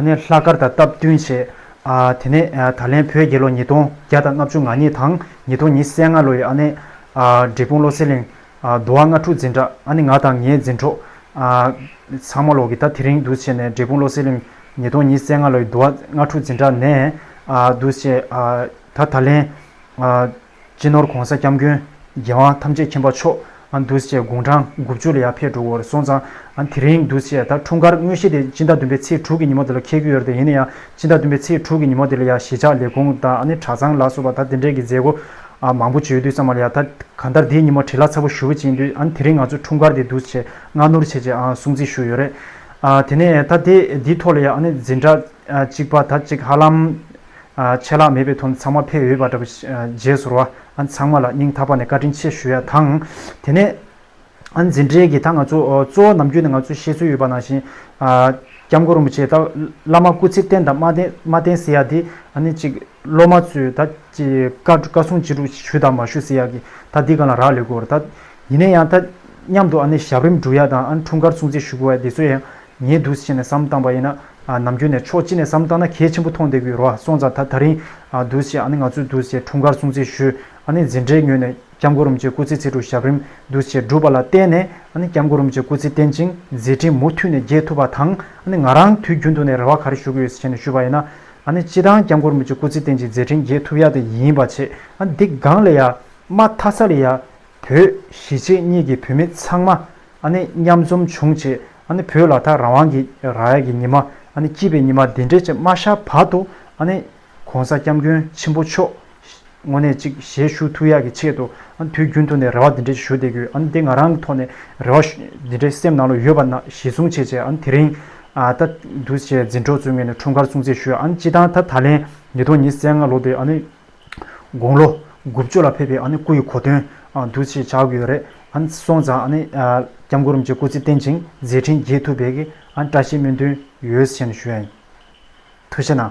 ནས་ལྷག་དཀར་དང་སྟབས་བསྟུན་བྱས། དེ་ནས་ད་ལན་བོད་རྒྱལ་ལོ་ཉིས་སྟོང་བརྒྱ་དང་ལྔ་བཅུ་ང་གཉིས་དང་ཉིས་སྟོང་ཉིས་སེ་ལྔ་ལོ་ཡི་ཨ་ནེ། འབྲས་སྤུངས་བློ་གསལ་གླིང། དུ་བ་ལྔ་ཕྲུག་འཛིན་གྲྭ་ཨ་ནེ་ང་དང་ངའི་འཛིན་གྲོགས། ཚང་མ་ལོག་གི་ད་དེ་རིང་འདུ་བྱས་ནས་འབྲས་སྤུངས་བློ་གསལ་གླིང། ཉིས་སྟོང་ཉིས་སེ་ལྔ་ལོ་ཡི་དུ་བ་ལྔ་ཕྲུག་འཛིན་གྲྭ་ནས། འདུ་བྱས། ད་ད་ལན། སྤྱི་ནོར་གོང་ས་སྐྱབས་མགོན། རྒྱལ་དབང་ཐམས་ཅད་མཁྱེན་པ་མཆོག། འདུས་བྱས་དགུང་གྲངས་དགུ་བཅུ་ལ་ཡར་ཕེབས་འགྲོ་འོར་སོང་ཙང། དེ་རིང་འདུས་བྱས་དང་འཁྲུངས་སྐར་དངོས་གཞི་དེ་སྤྱི་ཟླ་བདུན་པའི་ཚེས་དྲུག་གི་ཉིན་མོ་དེ་ལ་འཁེལ་གྱི་ཡོད་རེད་ཡིན་ན་ཡང་སྤྱི་ཟླ་བདུན་པའི་ཚེས་དྲུག་གི་ཉིན་མོ་དེ་ལ་ཡང་གཞིས་ཆགས་ལས་ཁུངས་དང་གྲྭ་ཚང་ལ་སོགས་པ་ད་དེ་འདྲས་ཀྱི་མཛད་སྒོ་མང་པོ་བྱོས་དུས་ཙམ་མ་ལ་ཡང་ད་གང་ལྟར་དེའི་ཉིན་མོ་བྲེལ་ལྷག་ཚ་པོ་ཞུ་གི་བྱིན་དུས་དེ་རིང་ང་ཚོས་འཁྲུངས་སྐར་དེ་འདུས་བྱས་སྔ་ནུར་བྱས་རྗེས་སྲུང་བརྩི་ཞུ་ཡོད་རེད། དེ་ནས་ད་དེ་འདིའི་ཐོག་ལ་ཡང་འཛིན་གྲྭ་གཅིག་པ་ད་ཅིག་ཧ་ལམ་ཆད་ལྷག་མེད་པའི་དོན་ཚང་མ་ཕེབས་ཡོད་པ་འདྲ་བོ། རྗེས་སོར་བ་ཚང་མ་ལ་སྙིང་ཐག་པ་ནས་བཀའ་དྲིན་ཆེ་ཞུ་ཡ་དང། དེ་ནས། འཛིན་གྲྭའི་གི་ད་ང་ཚོ་གཙོ་བོ་ནམ་རྒྱུན་ནས་ང་ཚོས་ཤེས་ཚོད་ཡོད་པ་ནང་བཞིན། སྐྱབས་མགོན་རིན་པོ་ཆེ་ད་བླ་མ་སྐུ་ཚེ་བརྟན་དང་མ་བརྟན་ཟེར་ཡ་དེ་ཨ་ནི་ཅིག་སློབ་མ་ཚོས་ད་བཀའ་སྲུང་ཅི་དྲུག་ཞུ་དང་མ་ཞུ་ཟེར་ཡ་གི་ད་འདི་ག་ལ་རག་ལས་དགོས་ད། ཡིན་ན་ཡང་ད་མཉམ་དུ་ཨ་ནི་ཞབས་རིམ་སྒྲུབ་ཡ་དང་ཨ་ནི་འཁྲུངས་སྐར་སྲུང་བརྩི་ཞུ་དགོས་ཡ་དེ་ཚོ་ཡང་ཉེས་འདུག་ཅེས་ནས་བསམ་བཏང་པ་ཡིན་ན། ནམ་རྒྱུན་ནས་ཕྱོགས་གཅིག་ནས་བསམ་བཏང་ན་གལ་ཆེན་པོ་མཐོང་བསྡད་གི་རོ་སོང་ཙང་ད་ད་རིང་འདུག་ཅེས་ཨ་ནི་ང་ཚོའི་འདུག་ཅེས་འཁྲུངས་སྐར་སྲུང་བརྩི་ཞུས་ཨ་ནི་འཛིན་གྲྭའི་ངོས་ནས་སྐྱབས་མགོ་རུམ་བཅས་སྐུ་ཚེ་ཚེ་དྲུག་ཞབས་རིམ་འདུག་ཅེས་བསྒྲུབས་པ་ལ་བརྟེན་ནས་ཨ་ནི་སྐྱབས་མགོ་རུམ་བཅས་སྐུ་ཚེ་བརྟན་ཅིང་མཛད་འཕྲིན་མུ་མཐུད་ནས་རྒྱས་ཐུབ་པ་དང་ཨ་ནི་ང་རང་དུས་རྒྱུན་དུ་ནས་རེ་བ་ག་རེ་ཞུ་གི་ཡོད་ཟེར་ནས་ཞུས་པ་ཡིན་ན་ཨ་ནི་སྤྱི་དང་སྐྱབས་མགོ་རུམ་བཅས་སྐུ་ཚེ་བརྟན་ཅིང་མཛད་འཕྲིན་རྒྱས་ཐུབ་ཡ་དེ་ཡིན་པ་བྱས་ཨ་ནི་འདི་སྒང་ལས་ཡ་མ་མཐའ་ས་ལས་ཡ་བོད་གཞིས་བྱེས་གཉིས་ཀྱི་བུད་མེད་ཚང་མ་ཨ་ནི་མཉམ་འཛོམས་བྱུང་བྱས་ཨ་ནི་བོད་ལ་ད་རང་དབང་གི་ར་ཡག་གི་ཉི་མ་ཨ་ནི་སྐྱིད་པའི་ཉི་མ་འདི་འདྲས་ཅིག་མ་ཤར་བར་དུ་ཨ་ནི། གོང་ས་སྐྱབས་མགོན་ཆེན་པོ་མཆོག་ངོ་ནས་ཅིག་གཞས་ཞུ་ཐུགས་ཡག་གི་ཆེད་དུ་ཨ་ནི་དུས་རྒྱུན་དུ་ནས་རེ་བ་འདི་འདྲས་ཅིག་ཞུ་བསྡད་དགོས་ཨ་ནི་འདི་ང་རང་གི་ཐོག་ནས་རེ་བ་འདི་འདྲས་སེམས་ནང་ལ་ཡོད་པ་ན་གཞི་བཟུང་བྱས་བྱས་ཨ་ནི་དེ་རིང་ད་འདུག་བྱས་འཛིན་གྲོགས་ཚོའི་ངོས་ནས་འཁྲུངས་སྐར་སྲུང་བརྩི་ཞུ་ཨ་ནི་སྤྱི་བཏང་ད་ད་ལན་ཉིས་སྟོང་ཉིས་བརྩེགས་ལྔ་ལོ་དེ་ཨ་ནི། དགུང་ལོ་དགུ་བཅུ་ལ་ཕེབས་པའི་སྐུ་ཡི་གོ་དོན། གདུལ་བྱའི་བྱ་དགོས་རེད། སོང་ཙང་སྐྱབས་མགོན་རིན་པོ་ཆེ་སྐུ་ཚེ་བརྟན་ཅིང་མཛད་འཕྲིན་རྒྱས་ཐུབ་པའི་བཀྲ་ཤིས་སྨོན་འདུན་ཡོད་བཞིན་ཞུ། དུ་ཤེས་ན།